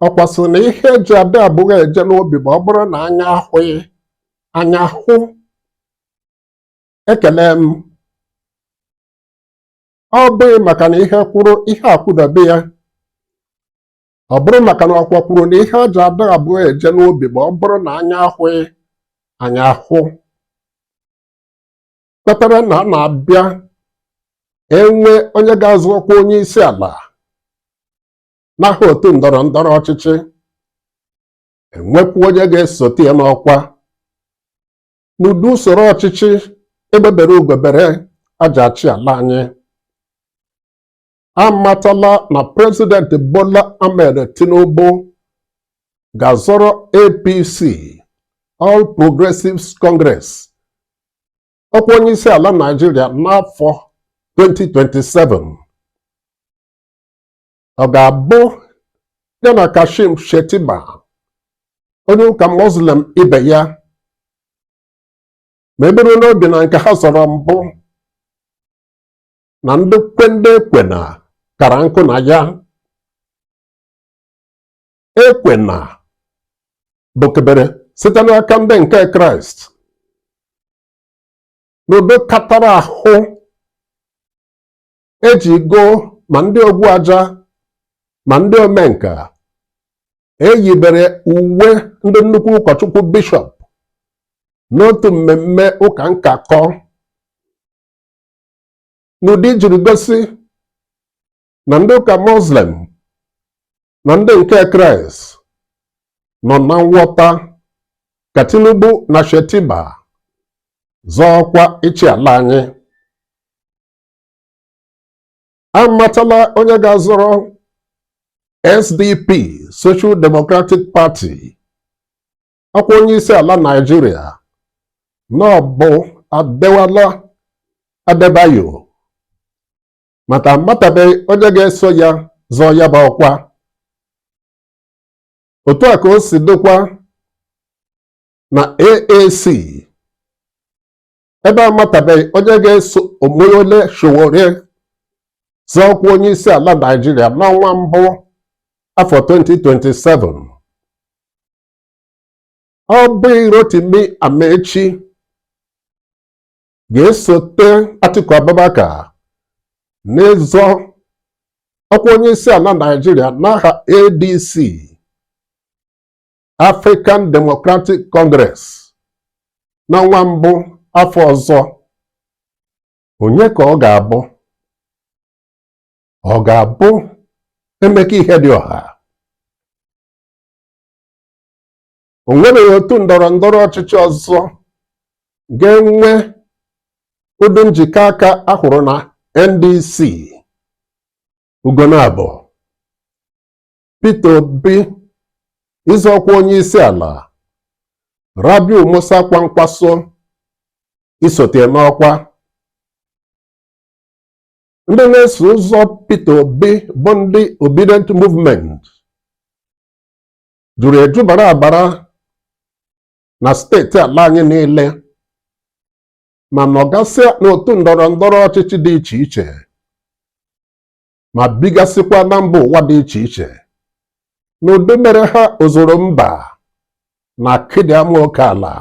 ọkwa sịrị na ihe eji adị abụọ eje n'ubi bụ ọ bụrụ na anya ahụghị anya ahụ ekele m ọ bụghị maka na ihe kwụrụ ihe akwụdebe ya ọ bụrụ maka na ọkwa kwuru na ihe eji adị abụọ eje n'ubi bụ ọ bụrụ na anya ahụghị anya ahụ kpatara na a na-abịa enwe onye ga-azọ ọkwa onye isi ala n'aha otu ndọrọ ndọrọ ọchịchị enwekwu onye ga-esote ya n'ọkwa n'ụdị usoro ọchịchị egbe bere ugo bere eji achị ala anyị amatala na prezident Bola Ahmed Tinubu ga-azọrọ APC All Progressives Congress ọkwa onye isi ala Naịjirịa n'afọ 2027 ọ ga-abụ ya na Kashim Shettima onye ụka Muslim ibe ya ma eburu n'obi na nke ha zọrọ mbụ na ndị kwe ndị ekwena kara nkụ na ya ekwena bụkebere site n'aka ndị nke kraịst n'ụdị katara ahụ eji go ma ndị ogwu aja ma ndị omenka eyibere uwe ndị nnukwu ụkọchukwu bishọp n'otu mmemme ụka nkakọ n'ụdị ijiri gosi na ndị ụka muslim na ndị nke kraịst nọ na nghọta ka tinubu na shettima zọọ ọkwa ịchị ala anyị amatala onye ga-azọrọ SDP Social Democratic Party ọkwa onye isi ala Naịjirịa na ọ bụ Adewale Adebayo ma aka amatabeghị onye ga-eso ya zọọ ya bụ ọkwa otu a ka o si dịkwa na AAC ebe a matabeghị onye ga-eso Omoyele Sowore zọọ ọkwa onye isi ala Naịjirịa n'ọnwa mbụ afọ 2027 ọ bụghị Rotimi Amaechi ga-esote Atiku Abubakar n'ịzọ ọkwa onye isi ala Naịjirịa n'aha ADC African Democratic Congress n'ọnwa mbụ afọ ọzọ onye ka ọ ga-abụ ọ ga-abụ Emeka Ihedioha o nwebeghị otu ndọrọ ndọrọ ọchịchị ọzọ ga-enwe ụdị njikọ aka a hụrụ na NDC ugbuna bụ Peter Obi ịzọ ọkwa onye isi ala Rabiu Musa Kwankwaso isote n'ọkwa ndị na-eso ụzọ Peter Obi bụ ndị Obidient Movement juru eju bara abara na steeti ala anyị niile ma nọgasịa n'otu ndọrọ ndọrọ ọchịchị dị iche iche ma bigasịkwa na mba ụwa dị iche iche n'ụdị mere ha ozuru mba na akịdị ama oke ala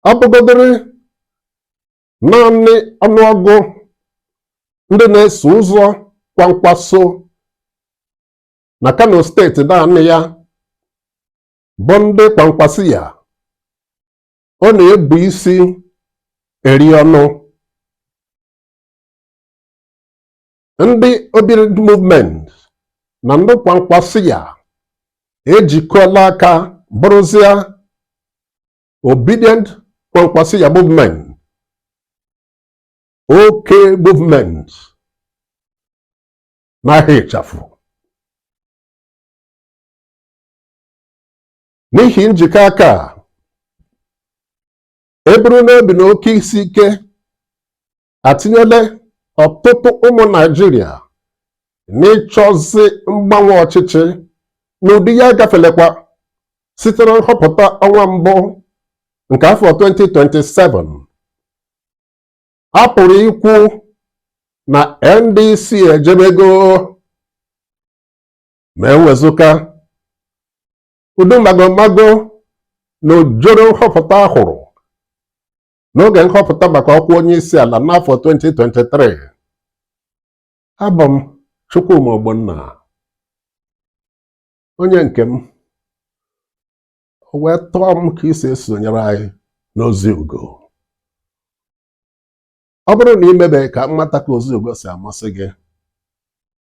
ọ bụgodịrị naanị ọnụọgụ ndị na-eso ụzọ Kwankwaso na Kano steeti naanị ya bụ ndị Kwankwasiyya ọ na-ebu isi eri ọnụ ndị Obidient movement na ndị Kwankwasiyya ejikọla aka bụrụzịa Obidient Kwankwasiyya movement OK movement n'aha ịchafụ n'ihi njikọ aka a e buru n'obi na oke isi ike atinyela ọtụtụ ụmụ Naịjirịa n'ịchọzi mgbanwe ọchịchị n'ụdị ya gafelekwa site na nhọpụta ọnwa mbụ nke afọ 2027 a pụrụ ikwu na NDC ejebego ma e wezuga Ụdị magomago na ojoro nhọpụta a hụrụ n'oge nhọpụta maka ọkwa onye isi ala n'afọ 2023 abụ m Chukwuma Ogbonna onye nke m o wee tọọ m ka i si esonyere anyị n'ozi ugo ọ bụrụ na i mebeghị ka m mata ka ozi ugo si amasị gị